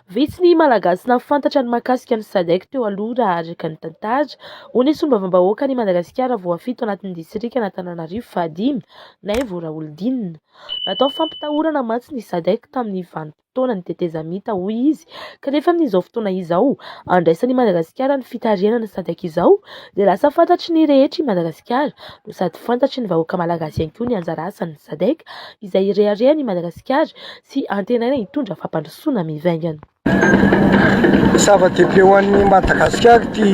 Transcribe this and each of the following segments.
Vitsy ny Malagasy nahafantatra ny mahakasika ny Sadec teo aloha raha araka ny tantara. Hoy ny solombavambahoakan'i Madagasikara voafito anatin'ny distrikan'Antananarivo fahadimy, Naivo Raholdina. Natao fampitahorana mantsy ny Sadec tamin'ny vanim-potoanan'ny tetezamita hoy izy kanefa amin'izao fotoana izao andraisan'i Madagasikara ny fitarihana ny Sadec izao dia lasa fantatry ny rehetra i Madagasikara no sady fantatry ny vahoaka Malagasy ihany koa ny anjara asan'ny Sadec izay ireharehan'i Madagasikara sy antenaina hitondra fampandrosoana mivaingana. Zava-dehibe ho an'i Madagasikara ity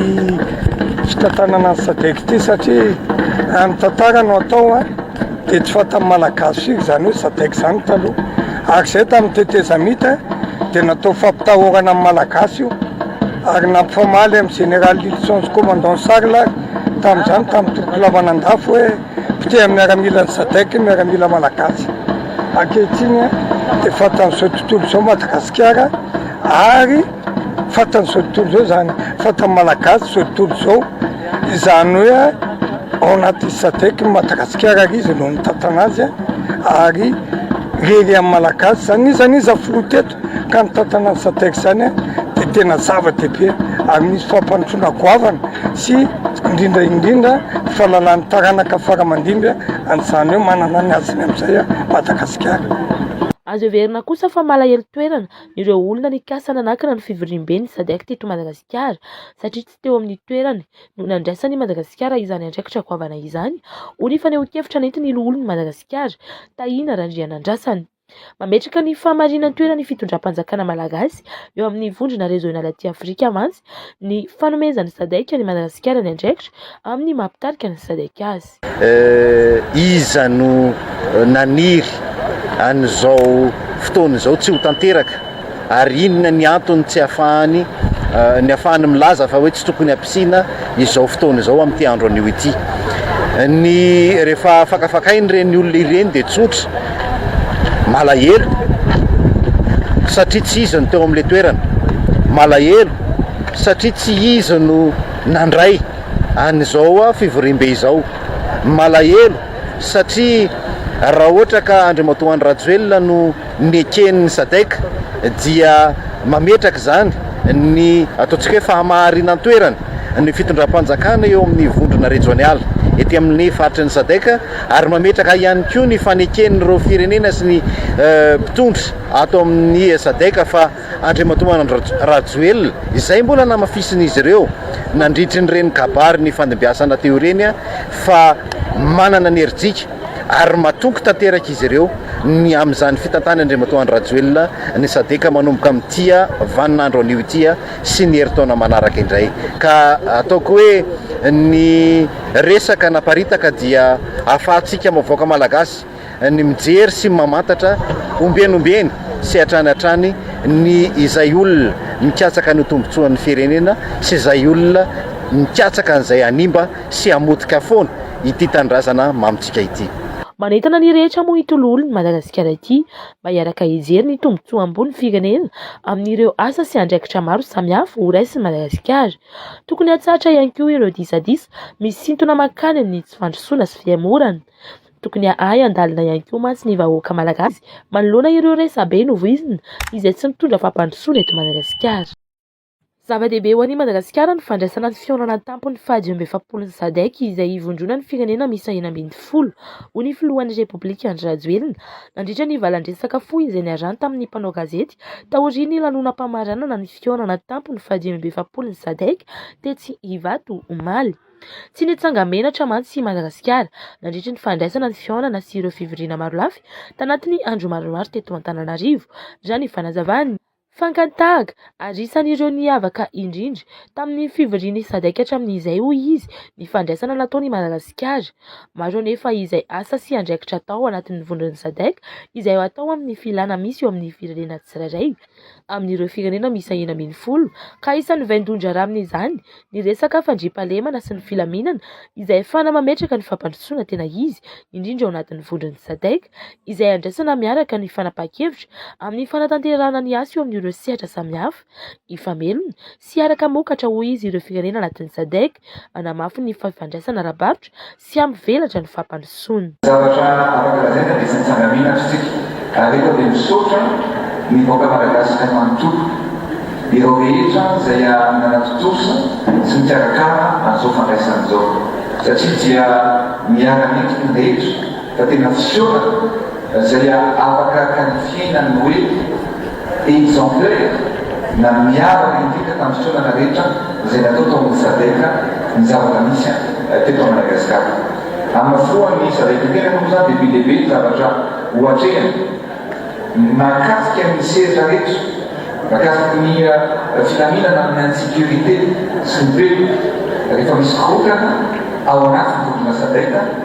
fitantanana ny SADEC ity satria amin'ny tantara no atao a dia tsy fantan'ny Malagasy firy izany hoe SADEC izany taloha ary izay tamin'ny tetezamita dia natao fampitahorana amin'ny Malagasy io ary nampifamaly amin'ny Général Lylison sy Commandant Charles ary tamin'izany tamin'ny toloko lavan'andafy hoe Potehan'ny miaramila ny Sadc ny miaramila malagasy. Ankehitriny dia fantan'izao tontolo izao Madagasikara ary fantan'izao tontolo izao izany, fantan'ny malagasy izao tontolo izao izany hoe ao anatin'ny Sadc i Madagasikara ary izy no mitantana azy ary lehilehin'ny malagasy izany. Iza n'iza filoha teto? Ka ny tantanà ny Sadec izany dia tena zava-dehibe ary misy fampandrosoana goavana sy indrindra indrindra fahalalàn'ny taranaka faramandimby an'izany hoe manana ny haziny amin'izay Madagasikara. Azo heverina kosa fa malahelo toerana ireo olona nikasa nanakana ny fivoriamben'ny Sadec teto Madagasikara satria tsy teo amin'ny toerany no nandraisan'i Madagasikara izany andraikitra goavana izany, hoy ny fanehoan-kevitra nentin'ny loholon'i Madagasikara, Tahina Randrianandrasana. Mametraka ny fahamarinan-toeran' ny fitondram-panjakana malagasy eo amin' ny vondrona Réseau Nala Aty Afrika mantsy ny fanomezan' ny Sadec an' i Madagasikara ny andraikitra amin' ny maha mpitarika ny Sadec azy. Iza no naniry an'izao fotoana izao tsy ho tanteraka? Ary inona ny antony tsy ahafahany ny ahafahany milaza fa hoe tsy tokony hampisina izao fotoana izao amin'ity andro anio ity? Ny rehefa fakafakain'ireny olona ireny dia tsotra, malahelo satria tsy izy no teo amin'ilay toerana, malahelo satria tsy izy no nandray an'izao fivoriambe izao, malahelo satria raha ohatra ka Andriamatoa Andry Rajoelina no neken'ny Sadec dia mametraka izany ny ataontsika hoe fahamaharinan-toerana ny fitondram-panjakana eo amin'ny vondrona rejonialy ety amin'ny faritry ny Sadec ary mametraka ihany koa ny faneken'ireo firenena sy ny mpitondra ato amin'ny Sadec fa Andriamatoa Andry Rajoelina, izay mbola namafisin'izy ireo nandritry ny reny kabary nifandimbiasana teo ireny fa manana ny herijika ary matoky tanteraka izy ireo ny amin'izany fitantan'Andriamatoa Andry Rajoelina ny Sadc manomboka amin'ity vaninandro anio ity sy ny herintaona manaraka indray ka ataoko hoe ny resaka naparitaka dia ahafahantsika vahoaka malagasy ny mijery sy ny mamantatra ombieny ombieny sy hatrany hatrany ny izay olona mikatsaka ny tombotsoan'ny firenena sy izay olona mikatsaka an'izay hanimba sy hamotika foana ity tanindrazana mamintsika ity. Manentana ny rehetra moa ity Loholon'i Madagasikara ity mba hiaraka hijery ny tombotsoam-bon'ny firenena amin'ireo asa sy andraikitra maro samihafa ho raisin'i Madagasikara. Tokony hatsahatra ihany koa ireo disadisa misintona mankany amin'ny tsy fandrosoana sy fihemorana. Tokony hahay handalina ihany koa mantsy ny vahoaka malagasy manoloana ireo resabe novoizina izay tsy mitondra fampandrosoana eto Madagasikara. Zava-dehibe ho an'i Madagasikara ny fandraisana ny fihaonana an-tampon'ny faha dimy amby efapolon'ny Sadec izay hivondronan'ny firenena miisa enina ambin'ny folo, hoy ny filohan'ny Repoblika Andry Rajoelina nandritra ny valandresaka fohy izay niarahany tamin'ny mpanao gazety taorian'ny lanonam-pamaranana ny fihaonana an-tampony faha dimy amby efapolon'ny Sadec tetsy Ivato omaly. Tsy nitsanga-menatra mantsy i Madagasikara nandritra ny fandraisana ny fihaonana sy ireo fivoriana marolafy tanatin'ny andro maromaro teto Antananarivo, raha ny fanazavan'ny. Fakan-tahaka, ary isan'ireo niavaka indrindra tamin'ny fivorian'ny Sadec hatramin'izay, hoy izy, ny fandraisana nataony i Madagasikara. Maro anefa izay asa sy andraikitra atao anatin'ny vondron'ny Sadec izay atao amin'ny filana misy eo amin'ny firenena tsirairay. amin'ireo firenena miisa enina ambin'ny folo ka isan'ny vaindohan-draharaha amin'izany ny resaka fandriampahalemana sy ny filaminana izay ahafahana mametraka ny fampandrosoana tena izy indrindra ao anatin'ny vondron'ny Sadec izay andraisana miaraka ny fanapahan-kevitra amin'ny fanatanterahana ny asa eo amin'ireo sehatra samihafa hifamelona sy hiara-kamokatra hoy izy ireo firenena anatin'ny Sadc hanamafy ny fifandraisana ara-barotra sy hampivelatra ny fampandrosoana. Zavatra afaka lazaina dia tsy nitsanga mihina ry tsika ary eto dia misaotra ny vahoaka Malagasy manontolo, ireo rehetra izay nanatontosa sy nikarakara an'izao fandraisana izao satria dia miara-mendrika ny rehetra fa tena fisaorana izay afaka qualifier-na ny hoe. Aids en deuil, na Miaro an'i Indrindra tamin'ny fitondrana rehetra izay natao tao amin'ny Sadc ny zava-misy teto Madagasikara. Hamafoan'ny Sadc tena moa izany dia be dia be ny zavatra ho atrehina mahakasika ny sehatra rehetra mahakasika ny filaminana amin'ny insécurité sy ny pelle rehefa misy korontana ao anatin'ny vondrona Sadc.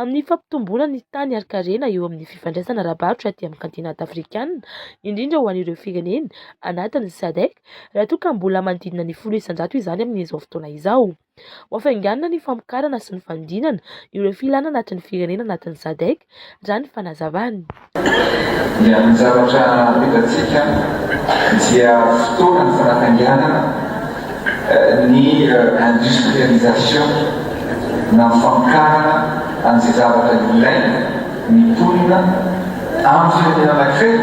Amin'ny fampitomboana ny tany ary karena eo amin'ny fifandraisana ara-barotra aty amin'ny kantinanta afrikana, indrindra ho an'ireo firenena anatin'ny Sadc, raha toa ka mbola manodidina ny folo isan-jato izany amin'izao fotoana izao. Ho hafainganina ny famokarana sy ny fanodinana ireo filana anatin'ny firenena anatin'ny Sadc, raha ny fanazavany. dia ny zavatra hitantsika dia fotoana ny fanatangianana ny industrialisation na ny famokarana an'izay zavatra ilaina ny mponina amin'ny firenena anankiray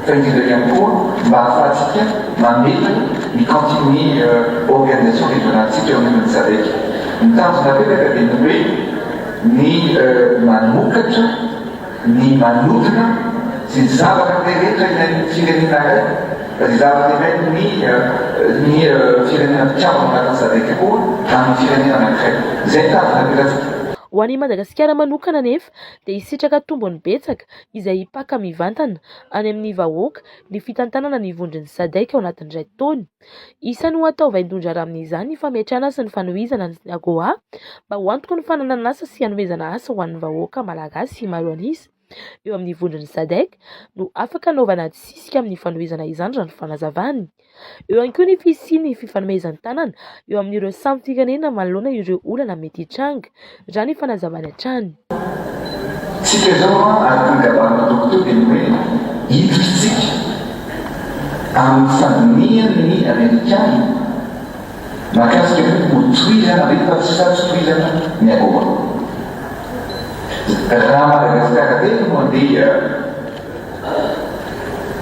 fa indrindra ihany koa mba hahafahantsika mametra ny continuer organisation régionale-ntsika eo anivon'ny sadec. Ny tanjona reraka dia ny hoe ny manokatra ny manodina sy ny zavatra be rehetra ilain'ny firenena iray, ny zavatra ilain'ny ny firenena mpikambana anatin'ny sadc koa amin'ny firenena anankiray. Izay ny tanjona apetratsika. Ho an'i Madagasikara manokana anefa dia hisitraka tombony betsaka izay hipaka mivantana any amin'ny vahoaka ny fitantanana ny vondron'ny sadc ao anatin'ny iray taona. Isan'ny ho atao vaindohan-draharaha amin'izany ny fametrahana sy ny fanohizana ny Synagoga mba ho antoky ny fananana asa sy hanomezana asa ho an'ny vahoaka malagasy maro an'isa eo amin'ny vondron'ny Sadec no afaka anaovana adisisika amin'ny fanohizana izany raha ny fanazavany. Eo ihany koa ny fisian'ny fifanomezan-tanana eo amin'ireo samy firenena manoloana ireo olana mety hitranga. Raha ny fanazavany hatrany. Tsika izao an, ary tena gavan'ny Tompo teo dia ny hoe hiditra tsika amin'ny fandinihan'ny Amerikana mahakasika ny hoe ho tohizana ve fa sa tsy tohizana ny AGOA. Raha Madagasikara teto no andeha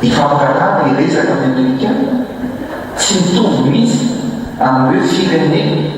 hifampiraharaha hiresaka amin'ny Amerikana, tsy mitovy mihitsy amin'ny hoe firenena.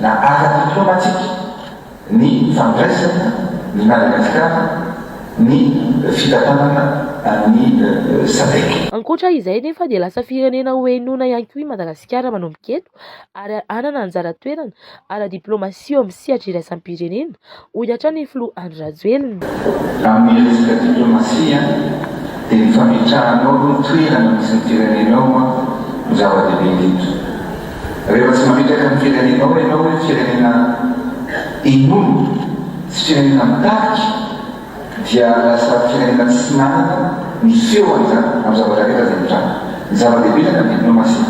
Na araka ny diplomatika, ny fandraisana ny Madagasikara ny fitantanana ny Sadec. Ankoatra izay nefa dia lasa firenena ho henoina ihany koa i Madagasikara manomboka eto ary hanana anjara toerana ara-diplaomasia eo amin'ny sehatra iraisam-pirenena. hoy hatrany ny filoha Andry Rajoelina. Raha miresaka diplaomasia dia ny fametrahanao aloha ny toerana misy ny firenenao no zava-dehibe indrindra. Rehefa tsy mametraka ny firenenao ianao hoe firenena inona sy firenena mitarika dia lasa firenena tsy manana ny feo amin'izany amin'ny zavatra rehetra izay mitranga. Ny zava-dehibe indrindra ny diplaomasia.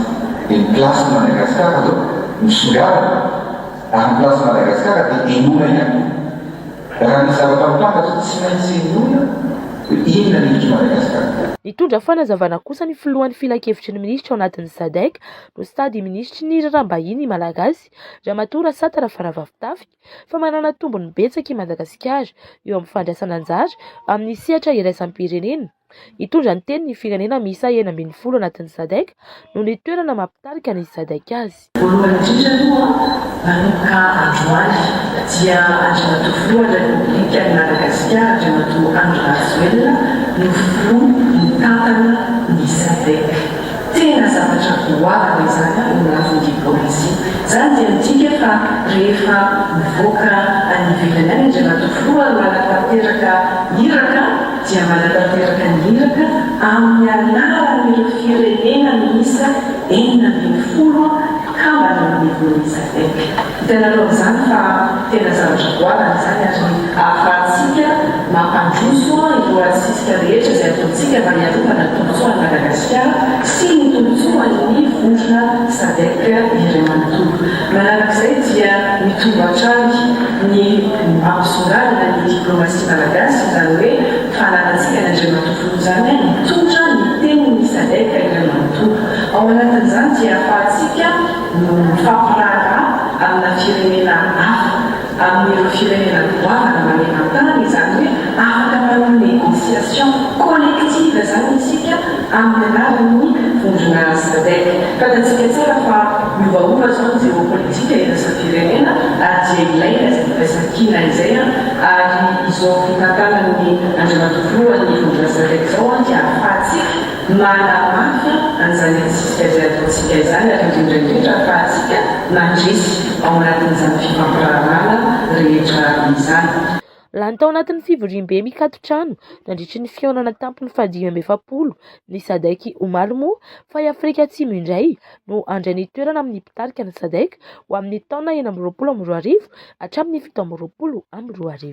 Dia ny place-n'i Madagascar izao misongadina. Raha ny plasin'i Madagasikara dia henoina ihany koa. Raha ny zavatra mitranga sy tsy maintsy henoina dia inona ny hevitr'i Madagasikara. Nitondra fanazavana kosa ny filohan'ny filankevitry ny minisitra ao anatin'ny Sadec no stade minisitry ny raharaham-bahiny Malagasy, Ramatoa Rasata Rafaravavitafika, fa manana tombony betsaka i Madagasikara eo amin'ny fandraisana anjara amin'ny sehatra iraisam-pirenena. Hitondra ny teniny ny firenena miisa enina ambin'ny folo anatin'ny Sadec noho ny toerana maha mpitarika ny Sadec azy. Voalohany indrindra aloha, vanomboka androany, dia Andriamatoa Filohan'ny Repoblikan'i Madagasikara, Andriamatoa Andry Rajoelina, no ho Filoha mitantana ny Sadec. Tena zavatra goavana izany eo amin'ny lafiny diplaomasia. Izany dia midika fa rehefa mivoaka any ivelany any Andriamatoa Filoha no hanatanteraka iraka, dia manatanteraka ny iraka amin'ny anaran'ireo firenena miisa enina ambin'ny folo mpikambana ao amin'ny Forum Sadec. Hitanareo amin'izany fa tena zavatra goavana izany ary ahafahantsika mampandroso ny loharantsika rehetra izay ataontsika mba hiarovana ny tombontsoan'i Madagasikara sy ny tombontsoan'ny vondrona Sadec iray manontolo. Manarak'izay dia mitombo hatrany ny mampisongadina ny diplomasia. Malagasy izany hoe fahalanantsika ny Andriamatoa Folonjany ahy mitondra ny tenin'ny Sadec iray manontolo. Ao anatin'izany dia ahafahantsika mifampiraharaha amina firenena hafa, amin'ireo firenena goavana maneran-tany, izany hoe afaka manao négociation collective izany isika amin'ny alalan'ny vondrona Sadec. Fantatsika tsara fa miovaova izao ny géopolitique. Tsika iraisam-pirenena ary dia ilaina izay firaisankina izay ary izao fitantanan'ny Andriamatoa Filohan'ny Vondron'Azaka izao dia ahafahantsika manamafy an'izany hetsika izay ataontsika izany ary indrindra indrindra ahafahantsika mandresy ao anatin'izany fifampiraharahana rehetra izany. Lany tao anatin'ny fivoriambe mikato-trano nandritry ny fihaonana tampony fahadimy amby efapolo ny Sadec omaly moa fa i Afrika Atsimo indray no handray ny toerana amin'ny mpitarika ny Sadec ho amin'ny taona enina amby roapolo amby roa arivo hatramin'ny fito amby roapolo amby roa arivo.